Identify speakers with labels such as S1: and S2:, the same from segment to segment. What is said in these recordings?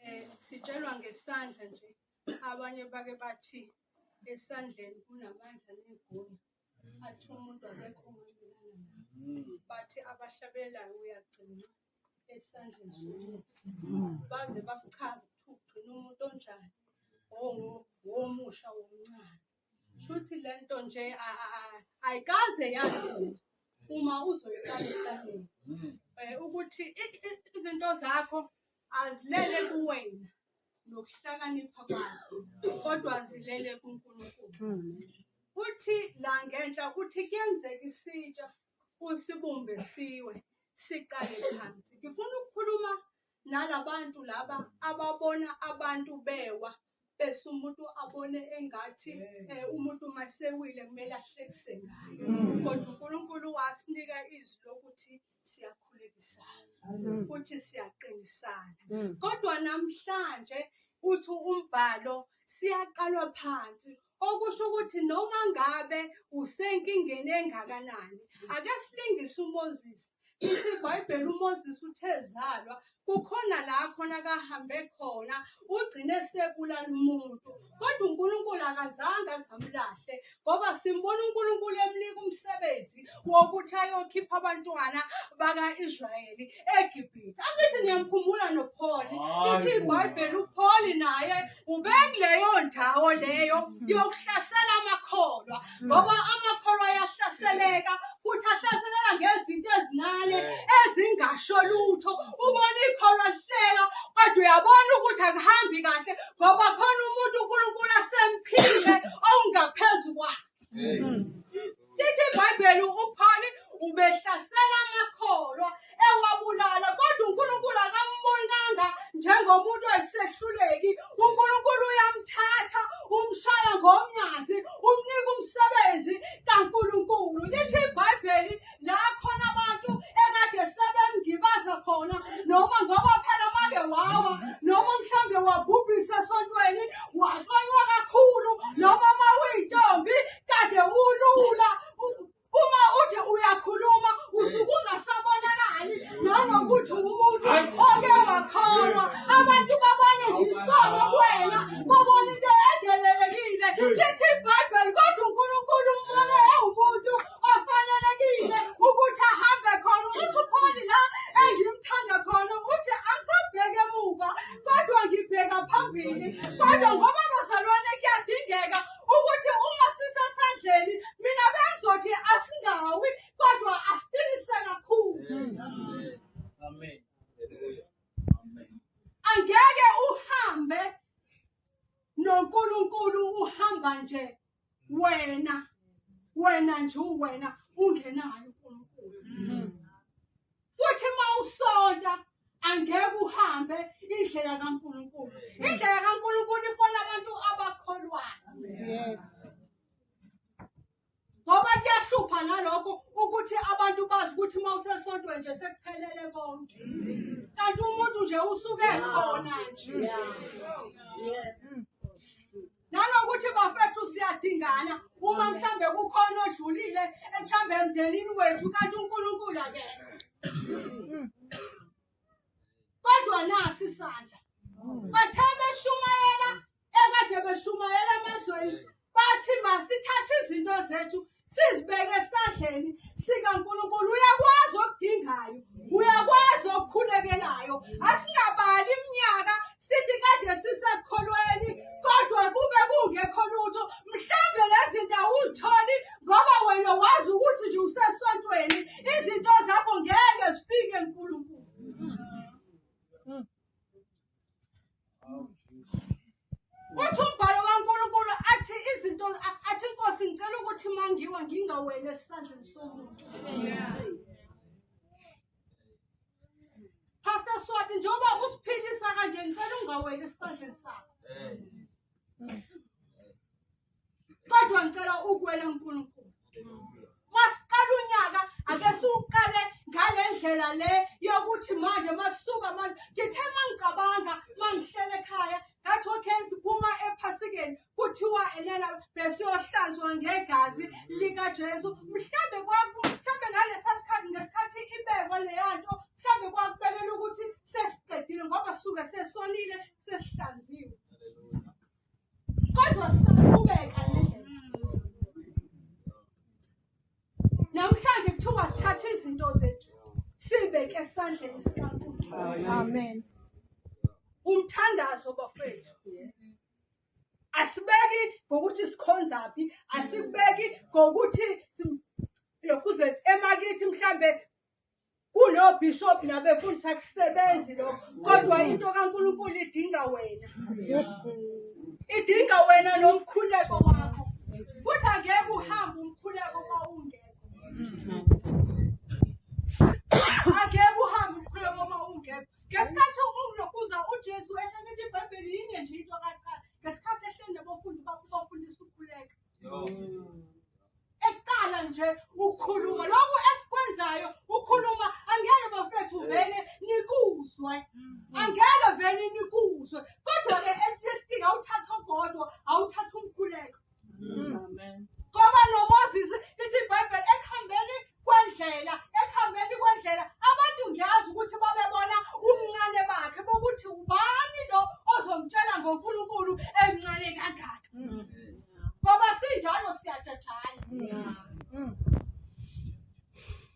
S1: eh sitshelwa ngesandla nje abanye bake bathi esandleni kunamandla negunya athi umuntu akekho umelana nawo bathi abahlabelayo uyagcina esandleni somusa baze basichaze ukuthi ugcina umuntu onjani womusha womncane Shuthi lento nje ayikaze yazi uma uzoyiqala eqaleni. Mm. Eh, ukuthi izinto zakho azilele kuwena nokuhlakanipha kwakho kodwa zilele kuNkulunkulu. Mm. Uthi la ngenhla uthi kuyenzeka isitsha usibumbe siwe siqale phansi. Ngifuna ukukhuluma nalabantu laba ababona abantu bewa bese umuntu abone engathi eh, umuntu masewile kumele ahlekise ngaye kodwa uNkulunkulu wasinika izwi lokuthi siyakhulekisana futhi siyaqinisana kodwa namhlanje uthi umbhalo siyaqalwa phansi Okusho ukuthi noma ngabe usenkingeni engakanani, ake silingise uMoses. Lithi iBhayibheli uMoses uthe ezalwa kukhona la khona kahambe khona ugcine sebulala umuntu kodwa uNkulunkulu akazange azamlahle ngoba simbona uNkulunkulu emnika umsebenzi wokuthi ayokhipha abantwana baka-Israyeli eGibhithe. Angithi niyamkhumbula noPholi. Lithi iBhayibheli uPholi naye ubekuleyo ndawo leyo yokuhlasela amakholwa ngoba amakholwa ayahlaseleka futhi ahlaseleka ngezinto ezincane ezingasho lutho. Ubona ikholwa lihleka kodwa uyabona ukuthi akuhambi kahle ngoba khona umuntu uNkulunkulu asemphile okungaphezu kwakhe. lithi ibhayibheli uphawuli ubehlasela amakholwa ewabulala kodwa unkulunkulu akambonanga njengomuntu oyisehluleki unkulunkulu uyamthatha umshaya ngomnyazi umnika umsebenzi kankulunkulu lithi ibhayibheli la khona abantu ekade sebemgibaza khona noma ngoba phela make wawa noma mhlawumbe wabhubhisa esontweni waxonywa kakhulu noma uma uyintombi kade ulula U- uma uthi uyakhuluma usuke ungasabonakali nanokuthi umuntu oke wakholwa abantu babone nje isono kuwena babone into edelelekile lithi ibhayibheli kodwa unkulunkulu umbone ewumuntu ofanelekile ukuthi ahambe khona ukuthi upholi la engimthanda khona ukuthi angisabheke emuva kodwa ngibheka phambili kodwa ngoba bazalwane kuyadingeka ukuthi uma sisesandleni mina bengizothi asingawi kodwa asiqinise kakhulu amen angeke uhambe noNkulunkulu uhamba nje wena wena nje uwena ungenayo uNkulunkulu mm. futhi uma usonta angeke uhambe indlela kaNkulunkulu mm. indlela kaNkulunkulu ifona abantu abakholwayo yes ngoba kuyahlupha nalokho ukuthi abantu bazi ukuthi uma usesontweni nje sekuphelele konke kanti umuntu nje usuke khona nje nanokuthi bafethu siyadingana uma mhlambe kukhona odlulile ekuhlambe emndenini wethu kanti unkulunkulu akena kodwa nasi isandla bathe beshumayela ekade beshumayela emazweni bathi masithathe izinto zethu sizibeke esandleni sikaNkulunkulu uyakwazi okudingayo uyakwazi okukhulekelayo asingabali iminyaka sithi kade sisekholweni kodwa kube kungekho lutho mhlambe lezi zinto awuzitholi ngoba wena wazi ukuthi nje usesontweni izinto zakho ngeke zifike nkulunkulu Uthi umbhalo kaNkulunkulu athi izinto athi inkosi ngicela ukuthi mangiwa ngingaweli esandleni somuntu. Pastor Swati njengoba usiphilisa kanje ngicela ungaweli esandleni sakho. kodwa ngicela ukuwela uNkulunkulu masiqala unyaka ake siwuqale ngale ndlela le yokuthi manje masuka manje ngithe mangicabanga mangihlele ekhaya ngathi okay siphuma ephasikeni kuthiwa enena besiyohlanzwa ngegazi likaJesu mhlambe kwaku mhlambe ngalesa sikhathi ngesikhathi ibekwa leya nto mhlambe kwakubekela ukuthi sesiqedile ngoba suke sesonile sesihlanziwe kodwa sisaqhubeka namhlanje kuthiwa sithathe izinto zethu sibeke esandleni sikankulunkulu amen
S2: umthandazo
S1: bafethu asibeki ngokuthi sikhonza phi asikubeki ngokuthi lokhuze emakithi mhlambe kunobishop nabefundisi akusebenzi lokho kodwa into kaNkulunkulu idinga wena idinga wena nomkhuleko wakho futhi angeke uhambe umkhuleko uma ungekho angeke uhambe umkhuleko uma ungekho ngesikhathi umlokuza ujesu ehlele ithi ibhayibheli yinye nje into kaqala ngesikhathi ehlele nabafundi bakho bafundisa ukukhuleka eqala nje ukhuluma lokhu esikwenzayo ukhuluma angeke bafethu vele nikuzwe angeke vele nikuzwe kodwa-ke elisting awuthatha ogodwa awuthatha umkhuleko
S2: ngoba
S1: nomoses lithi ibhayibheli ekuhambeni kwendlela ekuhambeni kwendlela abantu ngiyazi ukuthi babebona umncane bakhe bokuthi ubani lo ozomtshela ngonkulunkulu emncane kangaka mm. ngoba sinjalo siyajajana mm.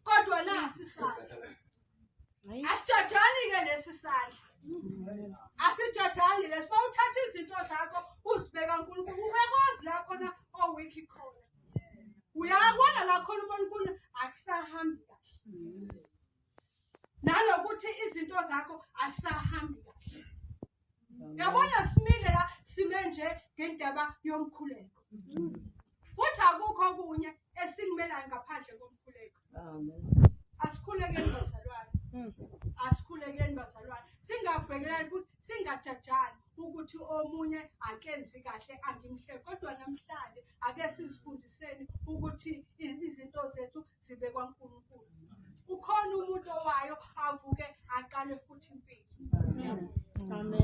S1: kodwa nasi sasa asijajani ke lesi sandla asijajani lesi uma uthatha izinto zakho uzibeka nkulunkulu uyakwazi la khona owikhi khona uyabona la khona ubona unkulunkulu akusahambi kahle nalokuthi izinto zakho asahambi kahle yabona simile la sime nje ngendaba yomkhuleko futhi akukho okunye esinimelayo ngaphandle komkhuleko
S2: asikhulekeni
S1: bazalwane hmm. asikhulekeni bazalwane singabhekelani futhi singajajani ukuthi omunye akenzi kahle angimhle kodwa namhlanje ake sizifundiseni ukuthi izinto zethu zibe kwaNkulunkulu ukhona umuntu owayo avuke aqale
S2: futhi
S1: impilo amen